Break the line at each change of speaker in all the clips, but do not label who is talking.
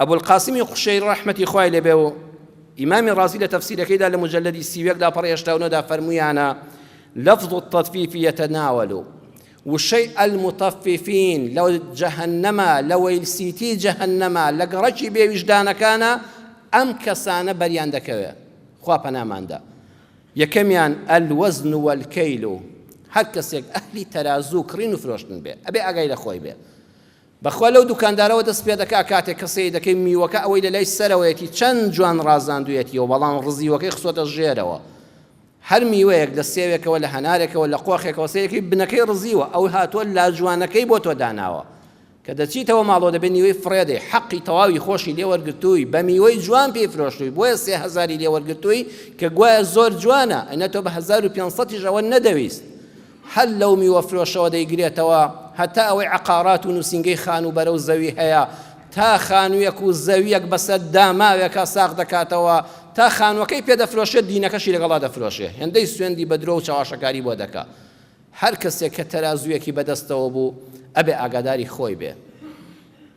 ئەبولقاسمی قوشەیری ڕەحمەتی خوای لێ بێ و ئیمامی ڕازی لە تەفسیرەکەیدا لە موجەلەدی سی و یەک لاپەڕەی هەشتا و نۆ دا فەرموویانە لفظ التطفیف یتناول وشەی المطففین لە جەهەنەمە لە وەیل سیتی جەهەنەمە لە گەڕەکی بێویژدانەکانە ئەم کەسانە بەریان دەکەوێ خوا پەناماندا یەکەمیان الوزن والکیل هەر کەسێک ئەهلی تەرازوو کڕین و فرۆشتن بێ ئەبێ ئاگای لە خۆی بێ بەخوا لەو دوکاندارەوە دەست پێدەکا کاتێک کە سەیر دەکەی میوەکە ئەوەی لەلای سەرەوەیەتی چەند جوان ڕازاندویەتیەوە بەڵام ڕزیوەکەی خستۆتە ژێرەوە هەر میوەیەک لە سێوێکەوە لە هەنارێکەوە لە قۆخێکەوە سەیرەکەی بنەکەی ڕزیوە ئەو هاتوە لاجوانەکەی بۆ تۆ داناوە کە دەچیتەوە ماڵەوە دەبێت نیوەی فڕێدەی حەقی تەواوی خۆشی لێ وەرگرتووی بە میوەی جوان پێی فرۆشتووی بۆیە سێ هەزاری لێ وەرگرتووی کە گوایە زۆر جوانە ئەنە تۆ بە هەزار و پێنج سەدیش ئەوە نەدەویست هەر لەو میوەفرۆشەوە دەیگرێتەوە هەتا ئەوەی عەقارات و نووسینگەی خانووبەرە و زەوی هەیە، تا خانوویەک و زەوییەک بەسەر داماوێکا ساغ دەکاتەوە، تا خانووەکەی پێ دەفرۆشێ دینەکەشی لەگەڵا دەفرۆشێ، هێندەی سوێندی بە درۆ و چەواشەکاری بۆ دەکا. هەر کەسێک کە تەرازوویەکی بە دەستەوە بوو ئەبێ ئاگاداری خۆی بێ.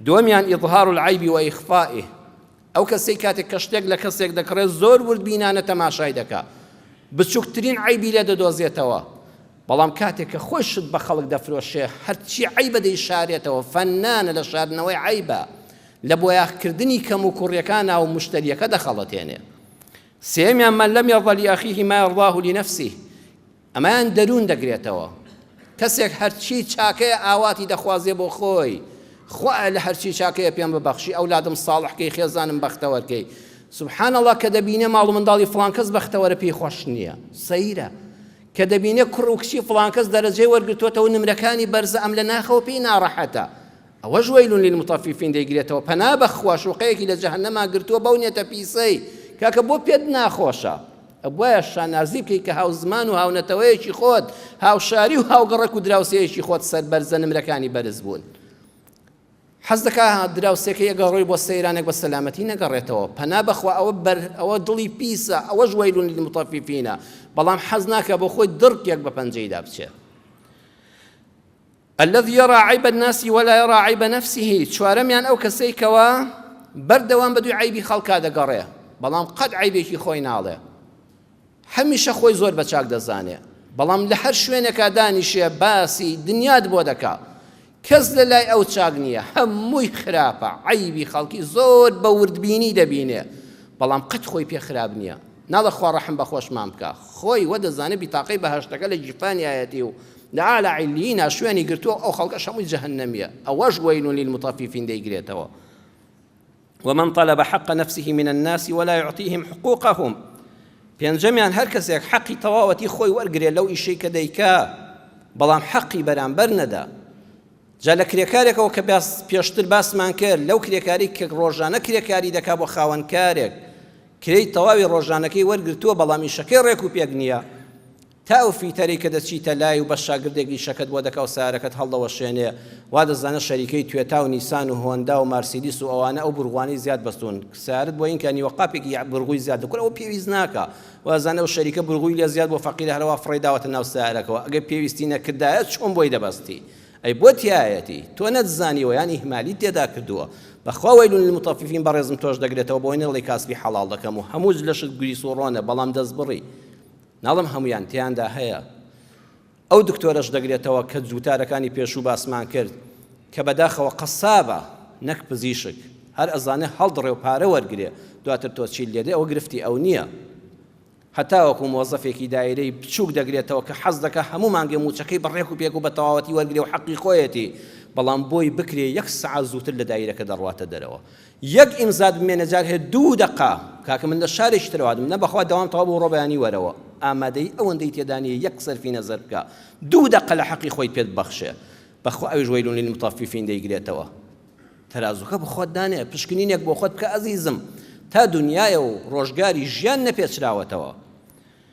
دووەمیان، اظهار العیب و اخفاءه، ئەو کەسەی کاتێک کە شتێک لە کەسێک دەکڕێت زۆر وردبینانە تەماشای دەکات، بچووکترین عەیبی لێ دەدۆزێتەوە، بەڵام کاتێک کە خۆی شت بە خەڵک دەفرۆشێ هەرچی عەیبە دەیشارێتەوە، فەننانە لە شاردنەوەی عەیبا، لە بۆیاخکردنی کەموکوڕیەکانا و مشتەریەکە دەخەڵەتێنێ. سێیەمیان، من لم یرض لأخیه ما یرضاه لنفسه، ئەمەیان دەروون دەگرێتەوە. کەسێک هەرچی چاکەیە ئاواتی دەخوازێ بۆ خۆی، خوایە لە هەرچی چاکەیە پێم ببەخشی، ئەولادم ساڵح کەی، خێزانم بەختەوەر کەی. سبحان اللە کە دەبینێ ماڵ و منداڵی فڵان کەس بەختەوەرە پێی خۆش نییە. سەیرە. کە دەبینێ کوڕ و کچی فڵان کەس دەرەجەی وەرگرتۆتەوە نمرەکانی بەرزە ئەم لە ناخەوە پێی ناڕەحەتە. ئەوەش وەیل للمطففین دەیگرێتەوە پەنا بەخوا شوقەیەکی لە جەهەنەما گرتووە بەو نیەتە پیسەی کاکە بۆ پێت ناخۆشە ئەبوایە شانازی بکەی کە هاوزمان و هاونەتەوەیەکی خۆت هاوشاری و هاوگەڕەک و دراوسێیەکی خۆت سەربەرزە نمرەکانی بەرز بوون حەز دەکا دراوسێکە یەگەڕۆی بۆ سەیرانێک بە سەلامەتی نەگەڕێتەوە پەنا بەخوا ئەوە بەر ئەوە دڵی پیسە ئەوەش وەیلون للمطففینە بەڵام حەز ناکە بۆ خۆی دڕکێک بە پەنجەیدا بچێت الذی یری عیب الناس ولا یری عیب نفسه، چوارەمیان ئەو کەسەی کەوا بەردەوام بەدووی عەیبی خەڵکا دەگەڕێ بەڵام قەت عەیبێکی خۆی ناڵێ هەمیشە خۆی زۆر بەچاک دەزانێ بەڵام لە هەر شوێنێکا دانیشێ باسی دنیات بۆ دەکا کەس لە لای ئەو چاک نییە هەمووی خراپە عەیبی خەڵکی زۆر بە وردبینی دەبینێ بەڵام قەت خۆی پێ خراپ نییە ناڵە خوا ڕەحم بە خۆشمان بکە خۆی وە دەزانێ بیتاقەی بەهەشتەکە لە گیرفانیایەتی و لە اعلی علیینا شوێنی گرتووە و ئەو خەڵکەش هەمووی جەهەنەمییە، ئەوەش ویل للمطففین دەیگرێتەوە، و من طلب حق نفسه من الناس ولا یعطیهم حقوقهم، پێنجەمیان هەر کەسێک حەقی تەواوەتی خۆی وەرگرێ لەو ئیشەی کە دەیکا بەڵام حەقی بەرامبەر نەدا، جا لە کرێکارێکەوە کە پێشتر باسمان کرد لەو کرێکاری کە ڕۆژانە کرێکاری دەکا بۆ خاوەن کارێک کرێی تەواوی ڕۆژانەکەی وەرگرتووە بەڵام ئیشەکەی ڕێک و پێک نییە، تا ئەو فیتەرەی کە دەچیتە لای و بە شاگردێک ئیشەکەت بۆ دەکا و سەیارەکەت هەڵدەوەشێنێ وا دەزانێ شەریکەی توێتا و نیسان و هۆندا و مارسیدیس و ئەوانە ئەو بورغوانەی زیاد بەستوون سەیارەت بۆ ئینکا نیوە قاپێکی یەع بورغوی زیاد دەکوت ئەوە پێویست ناکا و ئەزانێ ئەو شەریکە بورغوی لێ زیاد بووە فەقیرە هەروا فڕێی داوەتە ناو سەیارەکەوە ئەگەر پێویستی نەکردایە چۆن بۆی دەبەستی ئەی بۆ تیایەتی تۆ نەتزانیوە یان ئیهمالیت تێدا کردووە بەخوا وەیل للمطففین بەڕێزم تۆش دەگرێتەوە بۆی نەڵێی کاسبی حەڵاڵ دەکەم و هەموو لەشت گریس و ڕۆنە بەڵام دەستبڕی ناڵێم هەموویان، تێیاندا هەیە. ئەو دکتۆرەش دەگرێتەوە کە جووتارەکانی پێشوو باسمان کرد، کە بەداخەوە قەسابە نەک پزیشک، هەر ئەزانێ هەڵدڕێ و پارە وەرگرێ، دواتر تۆ چیت لێدەی ئەوە گرفتی ئەو نییە. هەتاوەکو مۆزەفێکی دایرەی بچووک دەگرێتەوە کە حەز دەکا هەموو مانگێ مووچەکەی بە ڕێک و پێک و بە تەواوەتی وەرگرێ و حەقی خۆیەتی، بەڵام بۆی بکرێ یەک سەعات زووتر لە دایرەکە دەڕواتە دەرەوە. یەک ئیمزات بمێنە جار هەیە دوو دەقە کاکە من لە شارێکی ترەوە هاتم نە بەخوا دەوام تەواو بۆ ڕۆبەیانی وەرەوە ئامادەی ئەوەندەی تێدا نیە یەک سەرفی نەزەر بکە دوو دەقە لە حەقی خۆی پێت بەخشێ بەخوا ئەویش وەیلون للمطففین دەیگرێتەوە تەرازوکە بە خۆت دانێ پشکنینێک بۆ خۆت بکە ئەزیزم تا دنیایە و ڕۆژگاری ژیان نەپێچراوەتەوە